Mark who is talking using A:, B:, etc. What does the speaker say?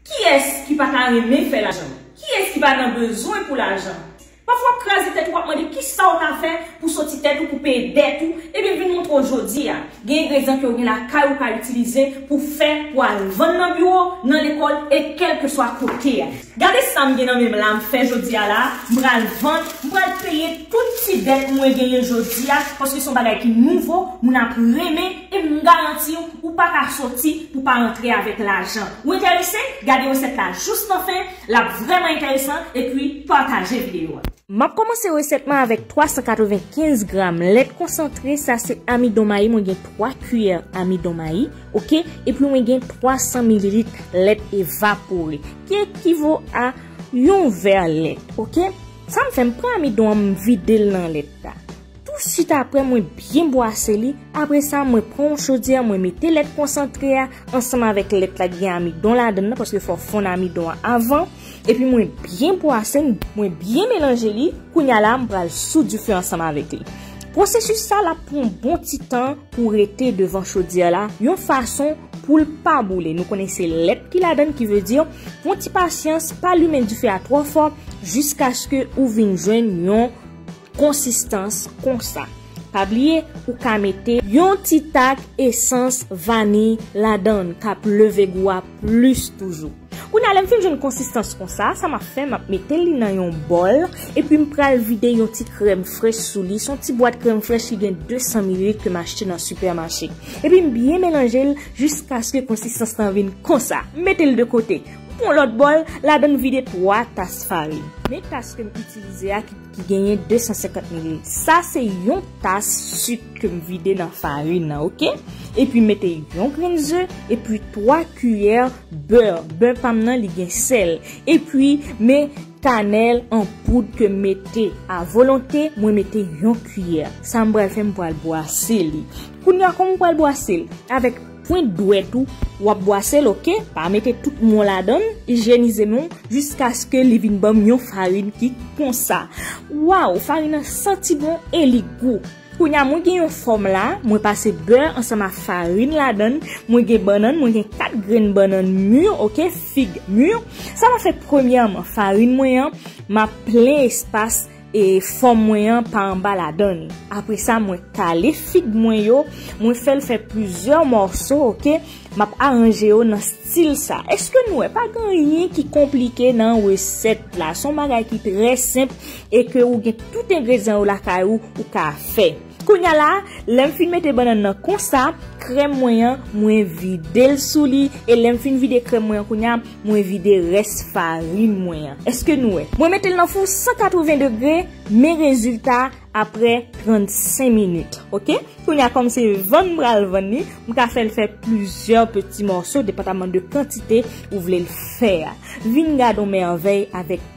A: Kiyès ki pa ta renmen fè lajan? Kiyès ki pa nan bezwen pou lajan? Pafwa w ap kraze tèt ou, w ap mande kisa w ta fè pou soti tèt ou, pou peye dèt ou, ebyen m vin montre w jodi a, gen engredyan ke w gen lakay ou ka itilize pou w fè, pou w al vann nan biwo, nan lekòl e kèlkeswa kote a. Gade sa m gen nan men m la, m fè jodi a la, m pral vann, m pral peye tout ti dèt mwen genyen jodi a, paske se yon bagay ki nouvo, moun ap renmen. Epi m garanti w, ou pa ka soti pou pa antre avèk lajan. Ou enterese? Gade resèt la jous nan fen, l ap vrèman enteresan, epi pataje videyo a. M ap kòmanse resèt
B: mwen avèk 395 gram lèt konsantre, sa se amidon mayi, mwen gen 3 kiyè amidon mayi, ok, epi mwen gen 300 mililit lèt evapore, ki ekivo a yon vè lèt, ok. Sa m fè, m pran amidon an m vide l nan lèt la. Tou swit apre mwen byen bwase li, apre sa mwen pran yon chodyè mwen mete lèt konsantre a ansanm avèk lèt la ki gen amidon ladan nan paske fò fonn amidon an avan, epi mwen byen bwase l, mwen byen melanje li, kounya la m pral sou dife ansanm avèk li. Pwosesis sa l ap pran yon bon ti tan pou rete devan chodyè la yon fason pou l pa boule, nou konnen se lèt ki ladan ki vle di pran ti pasyans pa limen dife a twò fò jiskaske ou vin jwenn yon. konsistans konsa pa bliye ou ka mete yon ti tak esans vaniy ladann kap leve gou a plis toujou kounye a lèm fin jwenn konsistans konsa sa map fè map metel li nan yon bòl epim pral vide yon ti krèm frèch sou li son ti bwat krèm frèch ki gen 200 mililit kem achte nan sipè mache epim byen melanjel jiskaske konsistans lan vin konsa metel de kote pwan lòt bòl ladann vide 3 tas farin men tas kem itilize a ki. Ki genyen 250 ml. Sa se yon tas suk ke m vide nan farin nan ok. E pi mete yon grenn ze, e pi 3 kiyè beur. Beur pa m nan li gen sèl. E pi me kanèl an poud ke m mete a volonte. Mwen mete yon kiyè. Sa m pral fè m pral bwase li. Kounya kòman m pral bwase l? Avèk Pwent dwèt ou wap bwasel ok pa mete tout mwen ladann ijyenize menw jiskaske li vin banm yon farin ki konsa waw farin nan santi bon e li gou kounya mwen gen yon fòm la mwen pase bè ansanm a farin ladann mwen gen bannann mwen gen 4 grenn bannann mur ok fig mur sa map fè premyèman farin mwen an map plen espas e fòm mwen an pa anba ladan li apresa mwen kale fig mwen yo mwen fèl fè plizyè mòso ok map aranje yo nan stil sa eske nou wè pa gen anyen ki konplike nan resèt la son bagay ki trè senp e ke ou gen tout engredyan yo lakay ou ou ka fè. Kounya la, lè m fin mete bannann nan konsa, krèm mwen an, mwen vide l sou li, e lè m fin vide krèm mwen an kounya, mwen vide rès farin mwen an. Èske nou wè? Mwen mete l nan fou 180 degre, men rezilta aprè 35 minit. Ok? Kounya kòm se vann m pral vann li, m ka fè l fè plizyè peti mòso depandaman de kantite ou vle l fè a. Vin gad yon mèvèy avèk.